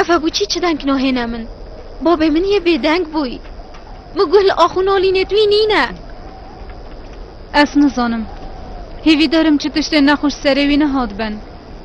Efe bu çi çi denk nohêne min. Babê min yê bêdeng bûy. Min guh li axûnolînê twî nîne. Ez nizanim. Hêvî derim çi tiştê nexweş serê wî nehat ben.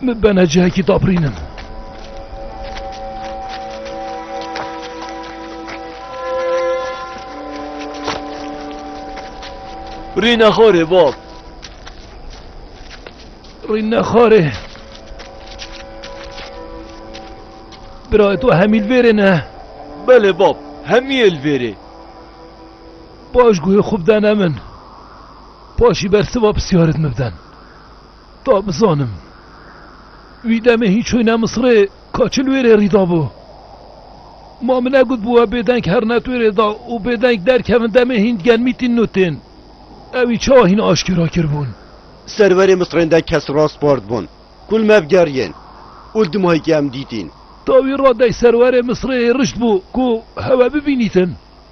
Min bene cihekî dabirînin. Rîne xorê bab. Rîne xorê. Bira tu hemîl vêrê ne. Belê bab, hemî el vêrê. Baş guhê xwe bidene min. Paşî ber siva pisyarit min biden. Ta bizanim. Wî demê hîn çûyîne Misirê ka çi li wê rê rî dabû. Ma min negot bi we bêdeng herin et wê rê da û bêdeng derkevin demê hîn digel mîtîn û tên. Ew wî çawa hîn aşkera kiribûn? Serwerê Misirên de kes raspard bûn ku li me bigeriyên û li dimahekê em dîtîn. Ta wî radeyî serwerê Misirê hêrişt bû ku hewe bibînîtin.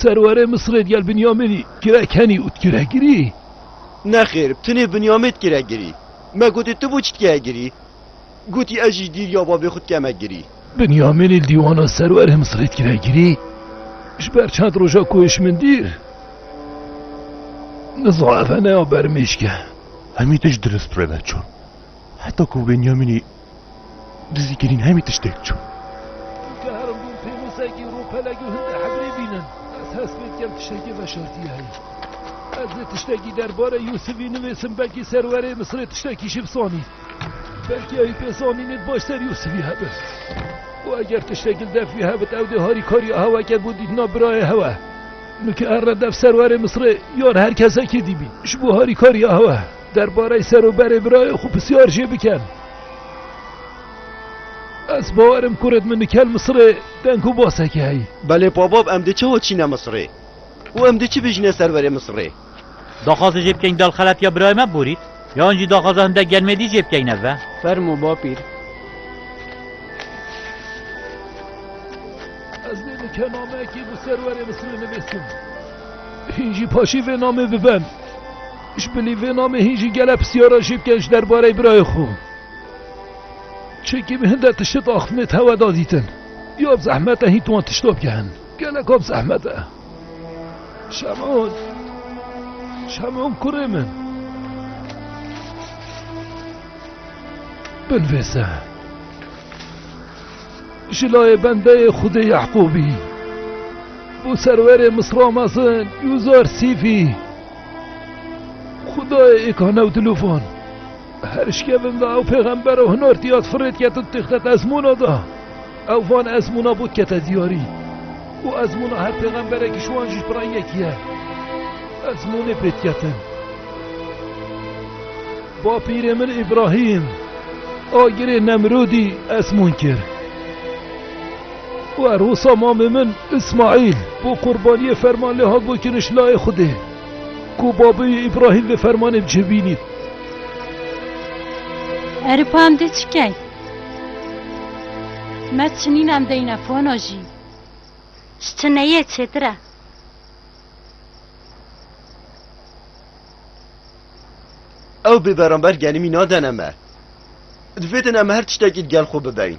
Serwerê Misirê digel Binyamînî girek henî û tu girek girî? Nexêr, bi tenê Binyamîn tu girek girî. Me gotî tu bû çi dikeye girî? Gotî ez jî dîrya bavê xwe dikeme girî. Binyamînî li dîwana serwerê Misirê tu girek girî? Ji ber çend roja ku hişî min dîr? Niza ev ne ya bermêşk e. Hemî tişt dirist rê ve çûn. Heta ku Binyamînî. Dizî kirîn hemî tiştêk çû. Digeherim dûm pênûsekî rûpelek û hindê hegrê bînin. Ez hest pê dikem tiştekê veşartî ye heye. Ez ê tiştekî derbarê Yûsivî nivîsim belkî serwerê Misirê tiştekî jî bisanîn. Belkî ewî pê zanînê di baş ser Yûsivî hebin. Û eger tiştekî li dev wî hebit ew dê harîkariya hewe ke bo dîtina birayê hewe. Min ki erre dev serwerê Misirê yan her kesekê dîbîn ji bo harîkariya hewe. Derbarê ser û berê birayê xwe pisyar jê bikin. Ez bawer im ku rêd min nikel Misirê deng û baseke heye. Belê Pabab em dê çawa çîne Misirê û em dê çi bijîne ser verê Misirê? Daxwaza jê bikeyn dal xelat ya birayê me Borît yan jî daxwaza hindek genmêdî jê bikeyn ev e. Fermo bapîr. Ez lê nike nameyekê bo ser werê Misirê nivîsim. Hîn jî paşê vê namê bibin. Ji bilî vê namê hîn jî gelek pisyara jê bike ji derbareyê birayê xwe. Çekî bi hin de tiştê daxutinê tewe da dîtin. Ya bi zehmet e hîn tu wan tişta bigehin. Geleka bi zehmet e. Şemon. Şemon kurê min. Binvêse. Ji layê bendeyê Xwedê Yehqûbî. Bû serwerê Misra mezin Yûzar Sîfî. Xudayê Îkanew Dilûfan, her şkevin de ew pêxembero hunor tiyat firê diket û dixtet ezmûna de. Ew van ezmûna bo dikete diyarî û ezmûna her pêxemberekî ji wan jî pira yekî ye. Ezmûnê pê diketin. Bapîrê min Îbrahîm, agirê Nemrûdî ezmûn kir. Werhosa mamê min Îsmaîl bo qurbaniyê ferman lê hat bo kiriş layê Xwedê ku babê wî Îbrahîm vê fermanê bi cih bînît. Erê pa em dê çi kein? Me çinîn em deyne fono jî. Ji çineyê çêtir e. Ew bê beramber genimî nadene me. Divêtin em her tiştekî digel xwe bibein.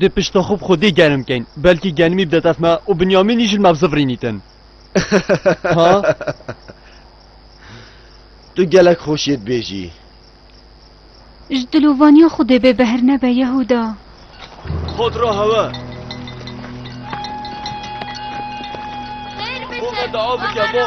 Dê pişta xwe bi xwedê germ bkeyn. Belkî germî bide dest me û Binyamîn îşl me bi zif rînîtin. Ha? Tu gelek xweşiyê dibêjî. Ji dilovaniya xwe dê bêbehir nebe Yehuda. Xwed re hewe. Xêr bike. Xwe dua bike bo.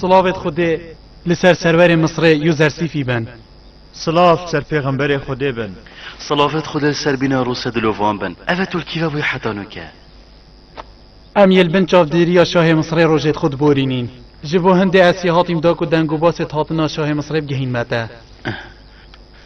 Sılavêt Xudê li ser serverê Misrê User Sîfî ben. Sılav ser pêxemberê Xudê ben. Sılavêt Xudê ser bîna Rûse dilovan ben. Eve Turkî ve bûye heta nuke. Em yê li bin çavdêriya şahê Misrê rojêt xwe diborînîn. Ji bo hindê esî hatîm da ku deng û basê hatna şahê Misrê bigihîn me te.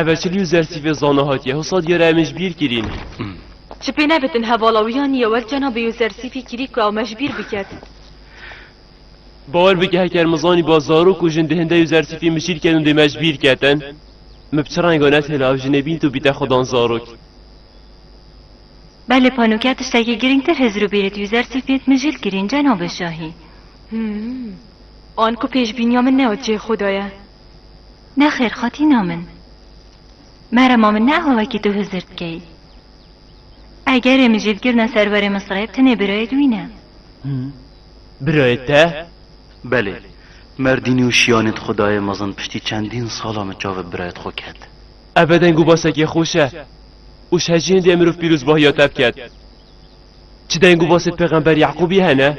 Eveçilî û zersîvê zana hatiye hisa diyara em ê ji bîr kirîn. Ji pê nebitin hevala wî ya nî yewer cena bê û zersîvî kirî ku ew me ji bîr biket. Bawer bike heker min zanîba zarok û jin di hinde û zersîvî mijîl ken û dê me ji bîr ketin, min bi çi renga netêne ev jinê bînt û bîte xwe dan zarok. Belê Panuke tiştekî girîngtir hizir û bîrit û zersîv bînt mijîl kirîn cenabê şahî. An ku pêşbîniya min ne ot cihê xwe de ye. Nexêr xatîna min. Merema min ne ew wekî tu hizir dikey. Egerê min jî dikirine ser berê min sirê tenê birayê te wî ne. Birayê te? Belê. Merdînî û şiyanê di xwe daye mezin piştî çendîn sala min çavê birayê di xwe ket. Ebe deng û basekê xweş e û ji hecî hindê mirov pîrozbahiya te biket. Çi deng û basê pêxember Yeqûbî hene?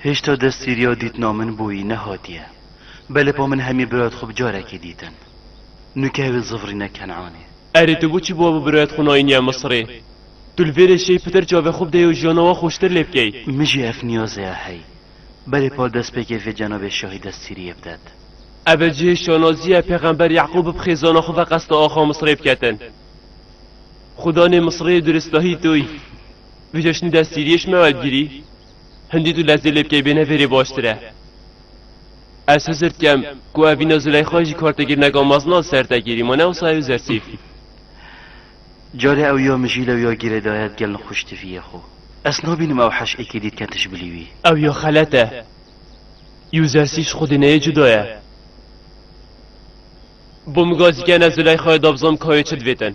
Hêşta destgîriya dîtina min bo wî nehatiye. Belê po min hemî biroyet xwe bi carekê dîtin. Nûkewî zivrîne Kenanê. Erê tu boçî bo bi biroyet xwe nayîniye Misirê? Tu li vê rê şêy pitir çavê xwe bideyê û jiyana we xweştir lê bikey. Min jî ev niyazê ya hey. Belê po destpêkê vê cenabê şahî destgîriyê bidet. Ev e cihê şanazî ye pêxember Yeqûb bi xêzana xwe ve qesta axa Misirê biketin. Xwe danê Misirê û di ristahî to yî. Vê ceşnî destgîriyê ji me werdgirî. Hindî tu lezê lê bikey bêne vêrê baştir e. Ez hizir dikem ku ev vîna Zileyxayê jî kartekirneka mezin a ser te kêrî ma ne wisa ew zersîf. Carê ew ya mijîl ew ya gîrê daye di gelin xwe ji tiviyê xwe. Ez nabînim ew heş êkê dît ke tij bilî wî. Ew ya xelet e. Yû zersîf ji xwedê neyê cuda ye. Bo min gazî kene Zileyxayê da bizanm ka wê çi divêtin.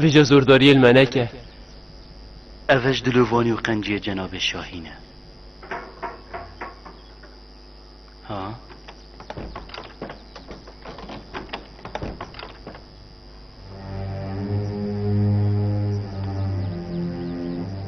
Vêca zordariyê li me neke. Ev ji dilê vanî û qenciyê cenabê Şahîn e. Ha?